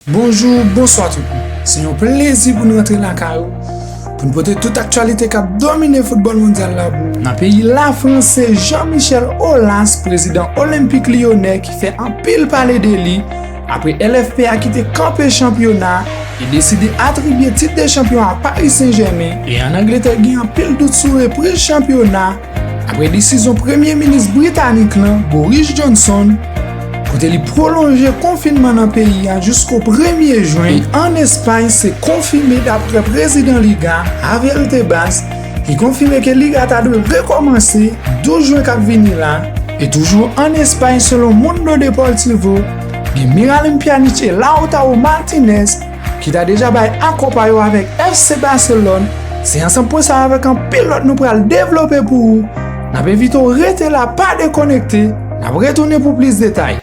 Bonjou, bonswa tout moun. Se yon plezi pou n rantre lakay ou pou n pote tout aktyalite k ap domine foutbòl mondyal la pou ou. Nan peyi Lafrans se Jean Michel Aulas prezidan Olympique Lyonnais ki fè anpil pale de li apre LFP a ki te kanpe chanpyona e deside atribye tit de chanpyon a Paris Saint Germain e an Angletè gen anpil dout sou repriz chanpyona Apre desizyon Premye Minis Britanik lan, Boris Johnson, kote li pwolonje konfinman nan peyi a jisko premye Jwen an Espay se konfime dapre Prezidan Liga, Javier Tebas, ki konfime ke Liga ta dwe rekòmanse 12 Jwen kap vini la, e toujou an Espay selon Mundo Deportivo, gen Miralem Pjanic e Lautaro Martinez, ki ta deja bay akò pa yo avèk FC Barcelone, se ansanm pwen sa avèk anpil lòt nou pral devlope pou ou, n ap envite w rete la pa dekonekte, n ap retounen pou plis detay.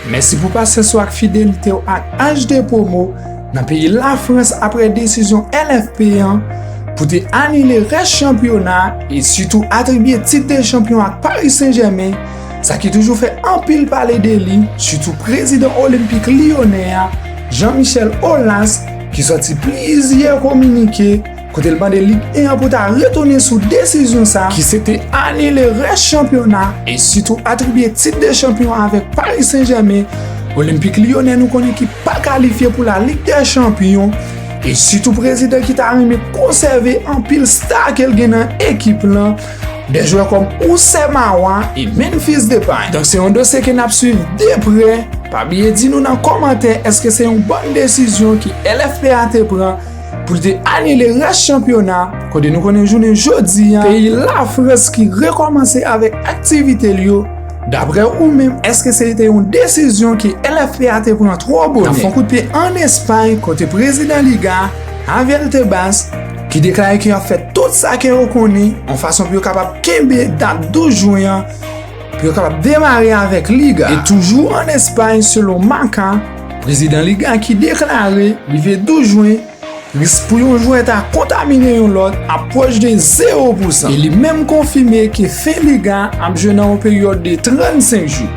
Mèsi pou pasyans ou ak fidelite ou ak HD Promo nan peyi Lafrans apre desizyon LFP an pou te anile rès chanpyona e sitou atribye tit de chanpyon ak Paris Saint-Germain, sa ki toujou fè anpil pale de li, sitou prezidan Olenpik Lyonè a, Jean Michel Aulas, ki sòti plizyè kominike. kote l mande Ligue 1 an pou ta retounen sou desizyon sa ki se te anile rès chanpyona e sitou atribye tit de chanpyon avèk Paris Saint-Germain, Olympique Lyonnais nou konnen ki pa kalifye pou la Ligue des Champions e sitou prezidan ki ta renmen konsève anpil sta ke l gen nan ekip lan, de jwè kòm Oussè Mawa e Memphis Depay. Donk se yon dosye ke n ap swiv de prè, pa bliye di nou nan kòmantè èske se yon bòn desizyon ke LFP a te pran. pou l te anile rès chanpyona a, kote nou konnen jounen jodi a, peyi Lafrans ki rekòmanse avèk aktivite l yo, daprè ou menm, èske se te yon desizyon ke LFPA te pran twò bonè? N ap fè yon kout pye ann Espay, kote prezidan Liga a, Javier Tebas, ki deklare ke y ap fè tout sa ke yo konnen, yon fason pou yo kapab kenbe dat 12 jwen an, pou yo kapab demare avèk Liga. E toujou an Espay selon Marca, prezidan Liga ki deklare li vle 12 jwen, risk pou yon jwè ta kontamine yon lòt ap pwòch de zewo pou san. E li menm konfime ke fen Liga ap jwe nan yon peryòd de 35 jou.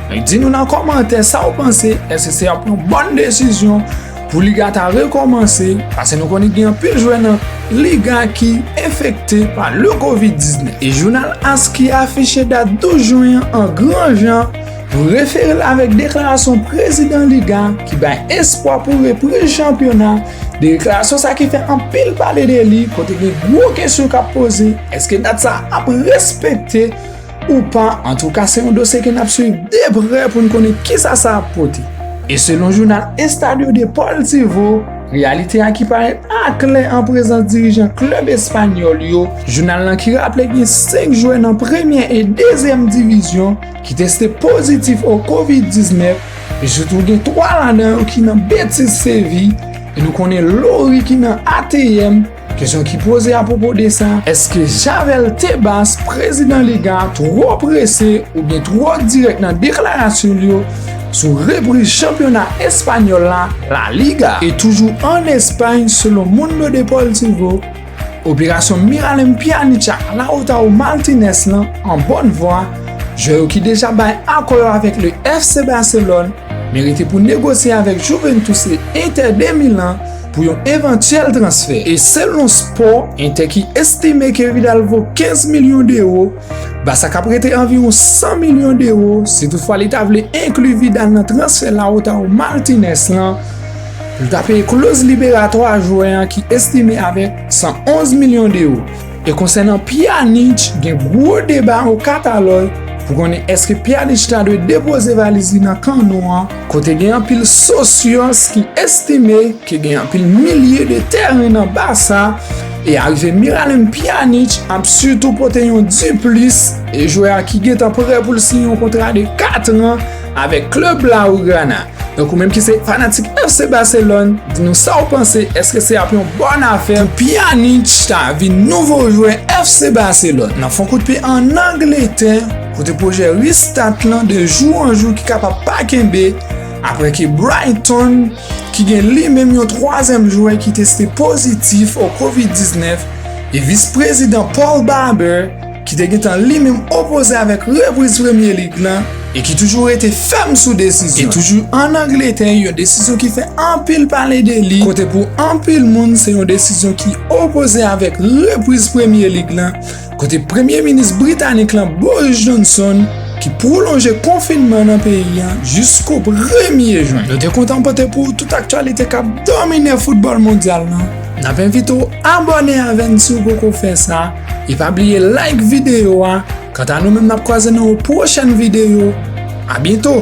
Di nou nan kòmantè sa ou panse, èske se ap yon bòn desizyon? Pou liga ta rekòmanse, pase nou konnen gen anpil jwè nan liga ki enfekte pa le Covid 19. E jounal as ki afiche dat 12 jwen an an gran jan pou refere l avèk deklarasyon prezidan liga ki bay espwa pou repriz chanpyona, deklarasyon sa ki fè anpil pale de li kote gen gwo kesyon k ap poze, èske dat sa ap respekte? Ou pa, antouka se yon dosye ke n ap swiv de prè pou n konnen kisa sa ap pote. E selon jounal Estadio Deportivo, reyalite a ki parèt aklè an prezans dirijan klèb espanyòl yo, jounal lan ki raple gen 5 jwè nan premyè e dezyèm divizyon ki teste pozitif o Covid 19, e sitou gen 3 ladan yo ki nan Betis Séville, e nou konnen Lloris ki nan ATM. Kesyon ki poze apwopo de sa, eske Javel Tebas, prezidan Liga, twò prese oubyen twò dirèk nan deklarasyon l yo sou repriz chanpyona espanyòl la, La Liga? E toujou ann Espay, selon Mundo Deportivo, operasyon Miralem Pjanic ak Lautaro Martinez lan an bòn vwa, jwè yo ki deja bay akò yo avèk le FC Barcelone, men rete pou negosye avèk Juventus e Inter de Milan, pou yon evantyèl transfè e selon Sport Inter ki estime ke Vidal vo 15 milyon dewo, Barça ka prete anviwon 100 milyon dewo si toutfwa li ta vle enkli Vidal nan transfè Lautaro Martinez lan pou l ta peye kloz liberatwa jwè an ki estime avèk 111 milyon dewo. E konsènan Pjanic, gen gwo deba o Katalòy pou konnen èske Pjanic ta dwe depoze valiz li nan Camp Nou an, Kote gen anpil sosyans ki estime ke gen anpil milye de tèren nan ba sa, e arive Miralem Pjanic ap sitou pote yon diplis e jwè a ki gentan prè pou l siyen yon kontra de 4 an avèk klèb Blaugrana. Donk ou menm ki se fanatik FC Barcelone, di nou sa w panse, èske se ap yon bòn afè pou Pjanic ta vin nouvo jwè FC Barcelone nan fon kout pye an Angletè? Kote pwojè Restart lan de jou an jou ki kapab pa kenbe apre ke Brighton, ki gen li menm yon twazyèm jwè ki teste pozitif o Covid 19, e vis prezidan Paul Barber, ki te gentan li menm opoze avèk repriz Premye Lig lan e ki toujou rete fèm sou desizyon li. E toujou an Angletè, yon desizyon ki fè anpil pale de li, kote pou anpil moun se yon desizyon ki opoze avèk repriz Premye Lig lan, kote premye minis britanik lan Boris Johnson ki pwolonje konfinman nan peyi an jisko premye jwen. Nou te kontan pote pou ou tout aktyalite k ap domine foutbòl mondyal lan. N ap envite w abòne avè n si w poko fè sa e pa bliye like videyo a. Kanta nou menm n ap kwaze nan yon pwochèn videyo. Abyento!